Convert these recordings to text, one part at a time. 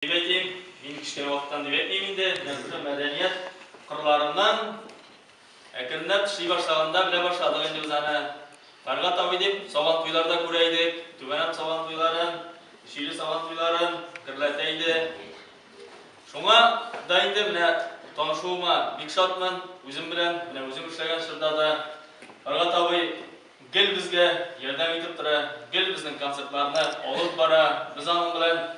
Дип әйтим, мин кечкенә вакыттан дип әйтмим инде, нәрсә мәдәният кырларыннан әкренләп эшли башлаганда белә башладык инде без аны. Фәргать абый дип Сабантуйлар да күрә идек, Түбәнәм Сабантуйларын, Өчиле Сабантуйларын гөрләтә иде. Шуңа да инде менә танышуыма бик шатмын, үзем белән, менә үзем эшләгән чорда да Фәргать абый гел безгә ярдәм итеп тора, гел безнең концертларны алып бара, без аның белән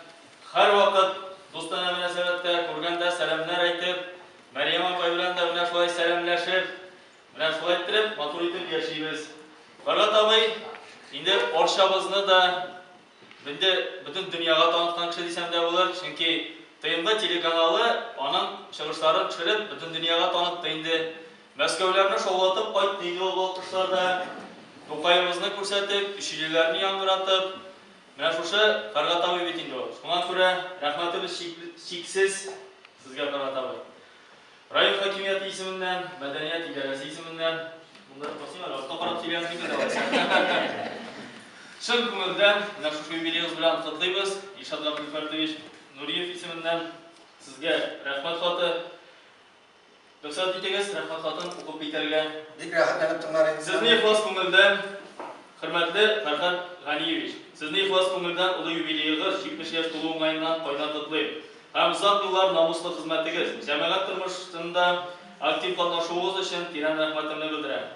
Һәрвакыт дустанә мөнәсәбәттә, күргәндә сәламнәр әйтеп, Мәрьям апай белән дә менә шулай сәламләшеп, менә шулай иттереп, матур итеп яшибез. Фәргать абый инде Арчабызны да инде бөтен дөньяга таныткан кеше дисәм дә булыр, чөнки ТМВ телеканалы аның чыгышларын төшереп, бөтен дөньяга танытты инде. Мәскәүләрне шаулатып кайтты инде ул вакытларда. Тукаебызны күрсәтеп, өчилеләрне яңгыратып, Менә шушы Карга тавы бит инде ул. Шуңа күрә рәхмәтебез чиксез сезгә, Карга тавы. Район хакимияте исеменнән, мәдәният идарәсе исеменнән. Монда да басыйм әле, артка карап сөйләгән килми дә алайса. Чын күңелдән менә шушы юбилеегыз белән котлыйбыз. Илшат Габделфәрдович Нуриев исеменнән сезгә рәхмәт хаты. Рөхсәт итегез, рәхәтлатып укып китәргә. Бик рәхәтләнеп тыңлар идек. Сезне ихлас күңелдән, хөрмәтле Фәрхәт Ганиевич, Сезне ихлас күңелдән олы юбилеегыз, 70 яшь тулу уңаеннан кайнар котлыйм. Һәм озак еллар намуслы хезмәтегез, җәмәгать тормышында актив катнашуыгыз өчен тирән рәхмәтемне белдерәм.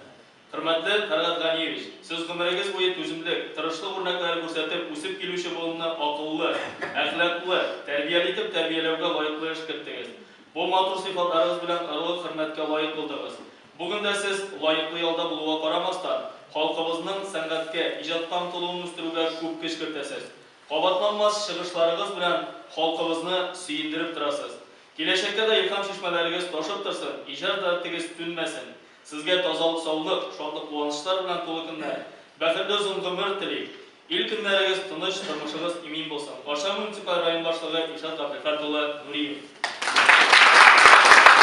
Хөрмәтле Фәргать Ганиевич, Сез гомерегез буе түземлек, тырышлык үрнәкләре күрсәтеп, үсеп килүче буынны акыллы, әхлаклы, тәрбияле итеп тәрбияләүгә лаеклы эш керттегез. Бу матур сыйфатларыгыз белән орлык-хөрмәткә лаек булдыгыз. Бүген дә Сез, лаеклы ялда булуга карамастан, халкыбызның сәнгатькә, иҗатка омтылуын үстерүгә күп көч кертәсез. Кабатланмас чыгышларыгыз белән халкыбызны сөендереп торасыз. Киләчәккә дә илһам чишмәләрегез ташып торсын, иҗат дәртегез сүнмәсен! Сезгә тазалык саулык, шатлык куанычлар белән тулы көннәр, бәхетле озын гомер телим. Ил көннәрегез тыныч, тормышыгыз имин булсын. Арча муниципаль район башлыгы Илшат Габделхат улы Нуриев.